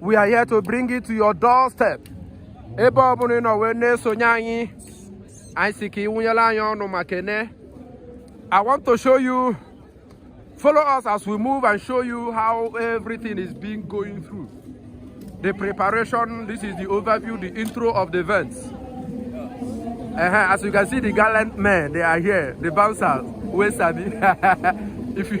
we are here to bring it to your doorstep ebe ọ bụla ị nọ wee na-esonye anyị anyị si ka ị wụnyere anyị ọnụ ma kene I want to show you follow us as we move and show you how everything is being going through the preparation this is the overview the intro of the events uh -huh. as you can see the gallant men they are here the bouncers wey sabi if you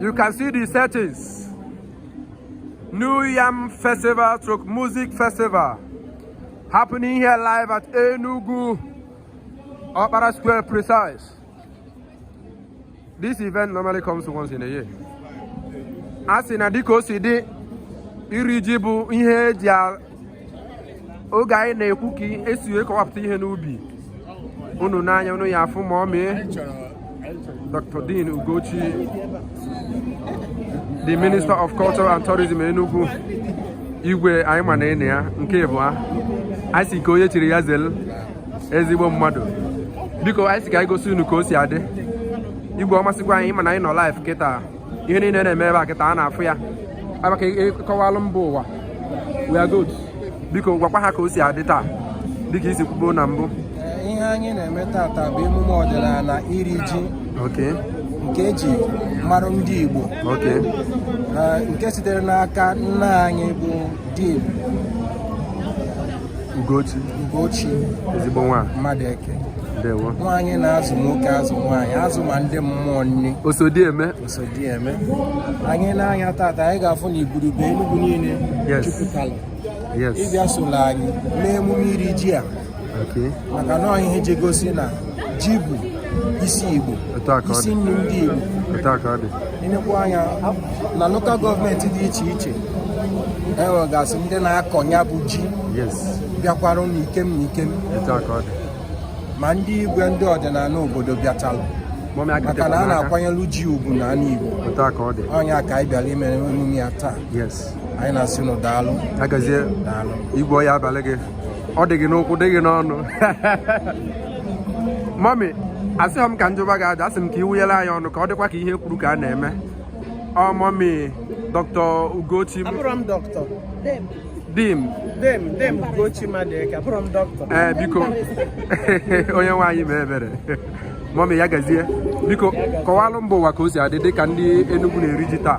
You can see the settings. New Yam Festival stroke Music Festival happening here live at Enugu Okpara Square precise. This event normally comes once in a year. A sị na dịka o si dị iri ji bụ ihe eji oge anyị na-ekwu ka esi wee kọwapụta ihe n'ubi unu n'anya unu ya afụ mọmi Dr. Dame Ugochi the Minister of Culture and Tourism Enugu igwe anyị ma na ịna ya nke ịbụa ah. anyị si ka onye chiri ya zelu ezigbo mmadụ biko anyị si ka anyị gosi unu ka o si adị igwe ọ masịkwa anyị ịma na anyị nọ live kịta ihe niile na-eme ebe a kịta a na-afụ ya ebe ka ị kọwalụ mba ụwa we are good biko gwakwa ha ka o si adị taa dịka i si kwubo na mbụ ihe anyị na-eme tata bụ emume ọdịnala iri ji okay nke eji mara ndị Igbo okay Eh, nke sitere n'aka nne anyị bụ Dame Ugochi Ugochi ezigbo nwa Madueke ndewo nwaanyị na-azụ nwoke azụ nwaanyị azụ ma ndị mmụọ nri osodieme osodieme anyị na-ene anya tata anyị ga-afụ na igurube Enugu niile jupụtara ịbịa solo anyị n'emume iri ji a maka na ihe ji gosi na ji bụ isi Igbo isi nri ndị Igbo i nekwa anya na lokal gọọmenti dị iche iche e nwegasị ndị na-akọ ya bụ ji bịakwara n'ikem n'ikem ma ndị igwe ndị ọdịnala obodo bịachalụ maka na a na-akwanyelu ji ugwu na ala Igbo ọ nya ka anyị bịara ime emume ya taa anyị na-asị nụ daalụ daalụ igwe ọ ya-abalụ gị ọ dị gị n'ụkwụ dị gị n'ọnụ mọmi asịghị m ka m jụba gị ajụ asị m ka ị wụnyere anyị ọnụ ka ọ dịkwa ka ihe e kwuru ka a na-eme ọ mọmi dọkịta Ugochi abụrọ m dọkịta Dame Dame Dame Ugochi Madueke abụrọ m dọkịta ee eh, biko onyenwe anyị mee ebere mọmi ya gazie biko kọwalụ mba ụwa ka o si adị dị ka ndị Enugu na-eri ji taa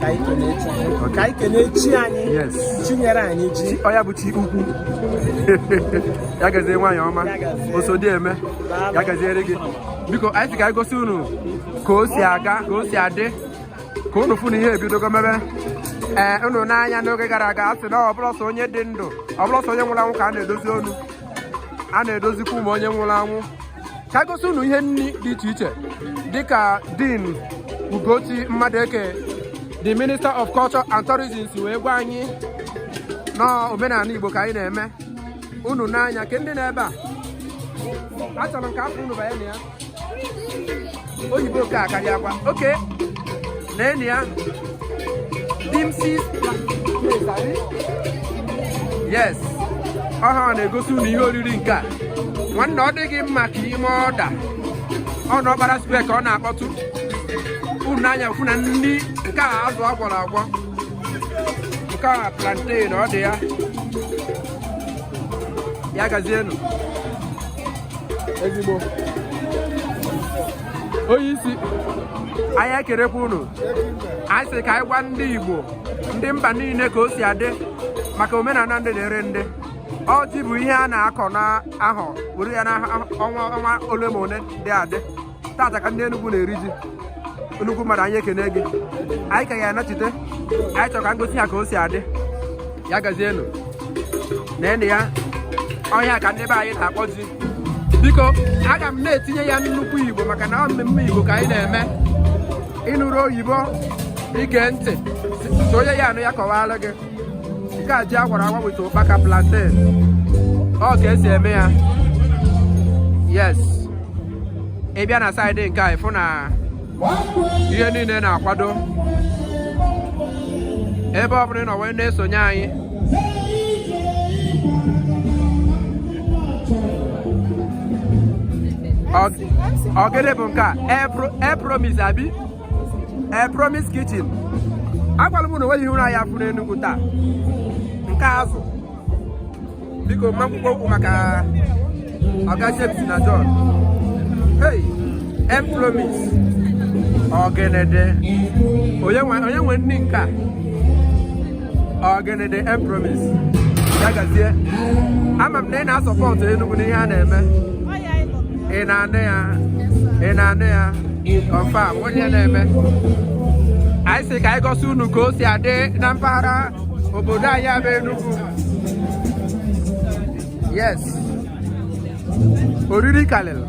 ka anyị kelee chi anyị ka anyị kelee chi anyị Yes. chi nyere anyị ji Chi- ọ ya bụ chi ukwu ya gazie nwaanyị ọma Ya gazie. Osodieme ya gaziere gị biko anyị sị ka anyị gosi unu ka o si aga ka o si adị ka unu fụ na ihe ebidogo mebe ee unu nee anya n'oge gara aga a sị na ọ bụrọ sọ onye dị ndụ ọ bụrọ sọ onye nwụrụ anwụ ka a na-edozi onu a na-edozikwa onu onye nwụrụ anwụ ka gosi unu ihe nni dị iche iche dịka Dame Ugochi Madueke the minister of culture and tourism si wee gwa anyị na omenala Igbo ka anyị na-eme unu nee anya ke ndị nọ ebe a achọrọ m ka afọ unu banye na ya oyibo ka akarịa akwa oke na enyi ya dimsis yes ọha na-egosi unu ihe oriri nke a nwanne ọ dịghị mma ka ime ọda ọ nọ Okpara Square ka ọ na-akpọtụ unu n'anya fụ na nni nke a azụ a gwọrọ agwọ nke a plantain ọ dị ya ya gazienụ ezigbo onye isi anyị ekelekwa unu anyị sị ka anyị gwa ndị Igbo ndị mba niile ka o si adị maka omenala ndị na-eri ji ọ ji bụ ihe a na-akọ n'ahọ were ya n'ọnwa ole ma ole dị adị tata ka ndị Enugu na-eri ji nnukwu mmadụ anyị ekene gị anyị ka ya-anachite anyị chọrọ ka m gosi ya ka o si adị ya gazienụ na enyi ya ọhịa ka ndị be anyị na-akpọ ji biko aga m na-etinye ya nnukwu Igbo maka na ọ mmemme Igbo ka anyị na-eme ị nụrọ Igbo i gee ntị sị onye ya-anụ ya kọwaara gị nke a ji a gwara agwa with ụkpaka plantain ọ ka e si eme ya yes ị bịa na saịdị nke a ị fụ na ihe niile na-akwado ebe ọ bụla ị nọ wee na-esonye anyị ọ gịnị bụ nke a M Promise abi ee eh, promise kitchen agwara m na o nwere ihe unu ya-afụ n'Enugu taa nke azụ biko mma mkpụkpọ okwu maka ọga James na John hey m promise ọgịnịdị onye nwe nri nke a ọgịnịdị m promise ya gazie ama m na ị na-asupport Enugu n'ihe a na-eme ị na-anụ ya ị na-anụ ya confam onye na-eme anyị sị ka anyị gosi unu ka o si adị na mpaghara obodo anyị a bụ Enugu yes oriri kalịlụ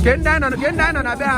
ke ndị anyị nọ na be ha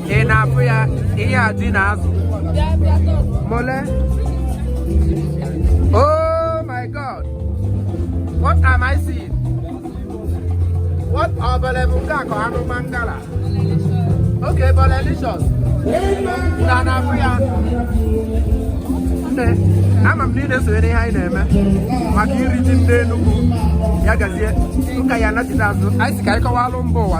ị na-afụ ya ihe a ji na azụ mole oh my god what am i seeing what ọ bole bụ nke a ka anụ mangala okay Bolelicious na na-afụ ya nne ama m na ị na-esonyere ihe anyị na-eme maka iri ji ndị Enugu ya gazie ụka ya anachite azụ anyị sị ka anyị kọwalụ mba ụwa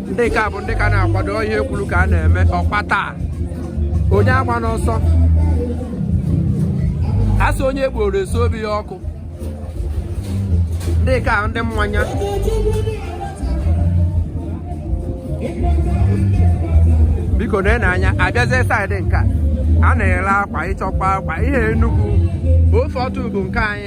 ndị nke a bụ ndị ka na-akwado ihe e kwuru ka a na-eme ọkpata onye agbana ọsọ a sị onye gboro eso obi ya ọkụ ndị nke a ndị mmanya biko nene anya abịazie side nke a a na-ere akwa ị chọkwa akwa ihe Enugu ofe ọtụ bụ nke anyị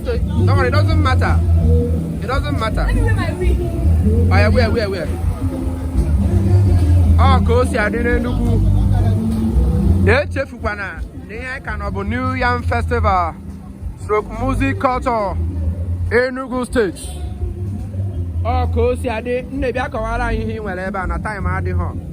Don't worry, it doesn't matter. It doesn't matter. Let me wear my wig. Oh, yeah, wear, wear, wear. Ọ ka o si adị n'Enugwu. Echefukwana na ihe anyị ka nọ bụ New Yam Festival stroke music culture Enugu State. Ọ ka o si adị nne bịa kọwara anyị ihe ị nwere ebe a na time adịghị.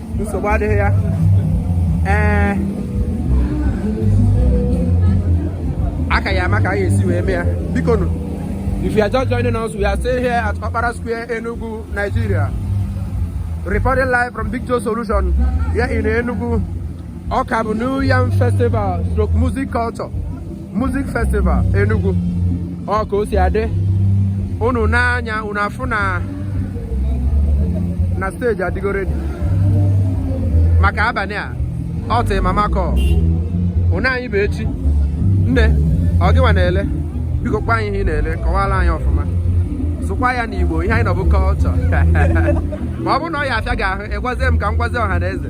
nsogbu adịghị ya ee a ka ya ama ka a ya-esi wee mee ya biko nụ if you are just joining us we are still here at Okpara Square Enugu Nigeria reporting live from Big Joe Solution here in Enugu ọ ka bụ New Yam Festival stroke music culture Music Festival Enugu ọ ka o si adị unu nee anya unu afụ na stage adịgo ready maka abalị a ọ till mama call ụna anyị bụ echi nne ọ gịwa na-ele biko gwa anyị ihe ị na-ele kọwara anyị ọfụma sụkwa ya n'Igbo ihe anyị nọ bụ culture ma ọ bụrụ na ọ ya afịa gị ahụ ị gwazie m ka m gwazie ọha na eze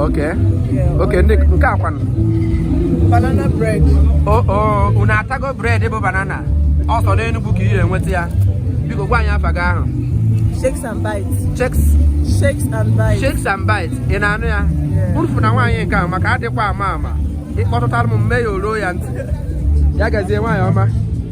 Okay. Yeah, okay, nke a kwanụ. Banana bread. Oh, oh, unu atago bread bụ banana. Ọ sọ n'Enugwu ka ị ga-enweta ya. Biko gwa anyị afa gị ahụ. Shakes and bites. Shakes. Shakes and bites. Shakes and bites. Ị na-anụ ya? Urufu na nwaanyị nke ahụ maka adịkwa ama ama. Ị kpọtụtara m m mee ya o ruo ya ntị. Ya gazie nwaanyị ọma.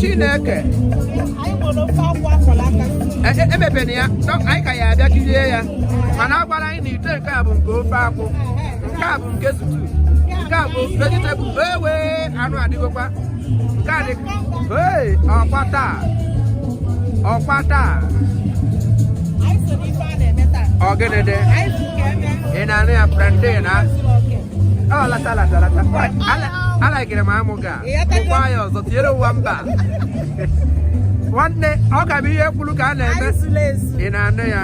chineke emepena ya anyị ka ya abịa kirie ya mana a gwara anyị na ite nke a bụ nke ofe akwụ nke a bụ nke stew nke a bụ vegetable ewe anụ adịgokwa nke a dị ọkwa taa ọkwa taa ọ gịnị dị ị na-anụ ya prende na ọ lata lata lata alaikere m amụ ga ụwa ya ọzọ tinyere ụwa mba nwanne ọ ka bụ ihe e kwuru ka a na-eme ị na-anụ ya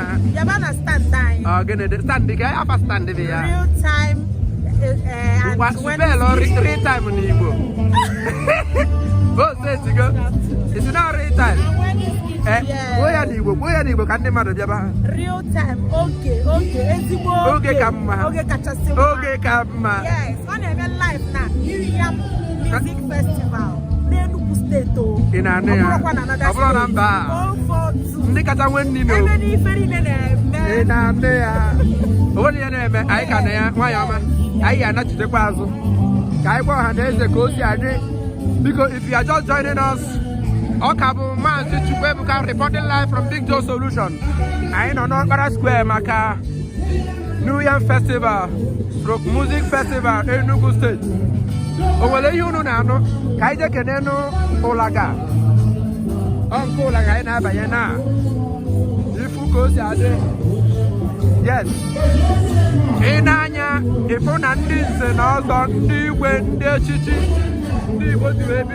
ọ gịnị dị standị ka afa standị dị ya ngwa spelụ real time n'Igbo o setigo isi na real time eh, kwuo ya n'Igbo kwuo ya n'Igbo ka ndị mmadụ bịaba real time oge oge ezigbo oge ka mma oge ka mma ọ na-eme live na New Yam Music Festival n'Enugu steeti o ị na-anụ ya ọ bụrụ na mba ndị kacha nwee nri n'o ị na-anụ ya o nwere ihe na-eme anyị ka na ya nwayọ ọma anyị ya anachitekwa azụ ka anyị gwa ọha na eze ka o si adị biko if you are just joining us ọ ka bụ maazị Chukwuebuka reporting live from Big Joe Solution anyị nọ n'Okpara Square maka New Yam Festival stroke Music Festival Enugu State o nwere ihe unu na-anụ ka anyị jee kenenụ ụlaga ọ nke ụlaga ị na-abanye na ịfụ ka o si adị yes i nee anya ị fụ na ndị nze na ọzọ ndị igwe ndị echichi ndị Igbo dị ebi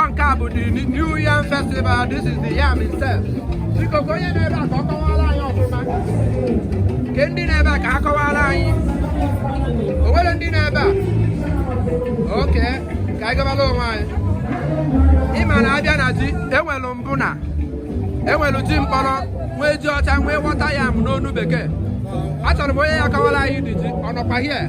ọ nke a bụ the new yam festival this is the yam itself biko ka onye nọ ebe a ka ọ kọwaara anyị ọfụma kee ndị nọ ebe a ka ha kọwaara anyị o nwere ndị nọ ebe a okay ka anyị kọbala onwe anyị ị ma na a bịa na ji e nwelu mbụ na e nwelu ji mkpọrọ nwee ji ọcha nwee water yam n'onu bekee achọrọ m onye ya akọwara anyị di ji ọ nọkwa here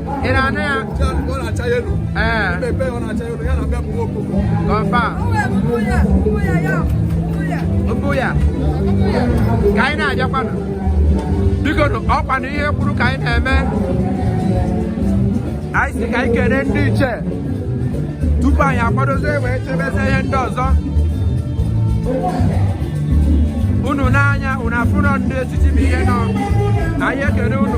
ị na-anụ ya ọ na-acha yellow ee mmepe ọ na-acha yellow ya na bịa bụ nwoke confirm mbụ ya ka anyị na-ejekwanụ bikonụ ọ kwa na ihe e kwuru ka anyị na-eme anyị sị ka anyị kene ndị ichie tupu anyị akwadozie wee chebeze ihe ndị ọzọ unu nee anya unu afụ na ndị echichi bụ ihe nọ anyị ekele unu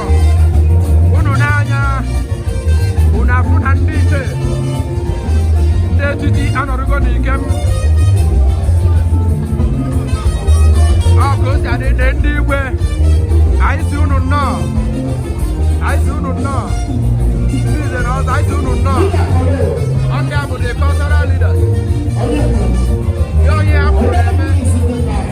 unu nee anya unu afụ na ndị ichie ndị echichi anọrụgo n'ike m ọ ka o si adị dị ndị igwe anyị sị unu nnọọ anyị sị unu nnọọ ndị nze na ọzọ anyị sị unu nnọọ ọ ndị a bụ the cultural leaders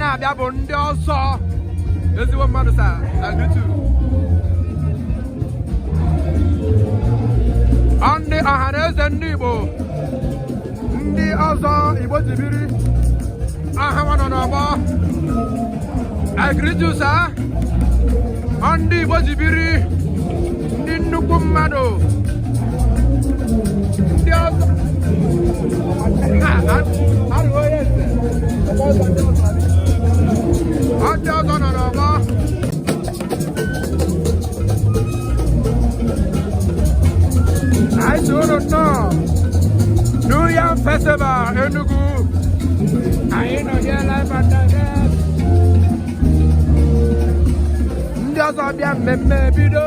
na-abịa bụ ndị ọzọ ezigbo mmadụ sa na YouTube ndị ọha na eze ndị Igbo ndị ọzọ Igbo ji biri aha nwa nọ n'ọgbọ agrijusa ọ ndị Igbo ji biri ndị nnukwu mmadụ ndị ọzọ anyị tụrụ nnọọ New Yam Festival Enugu anyị nọ here live and direct ndị ọzọ bịa mmemme bido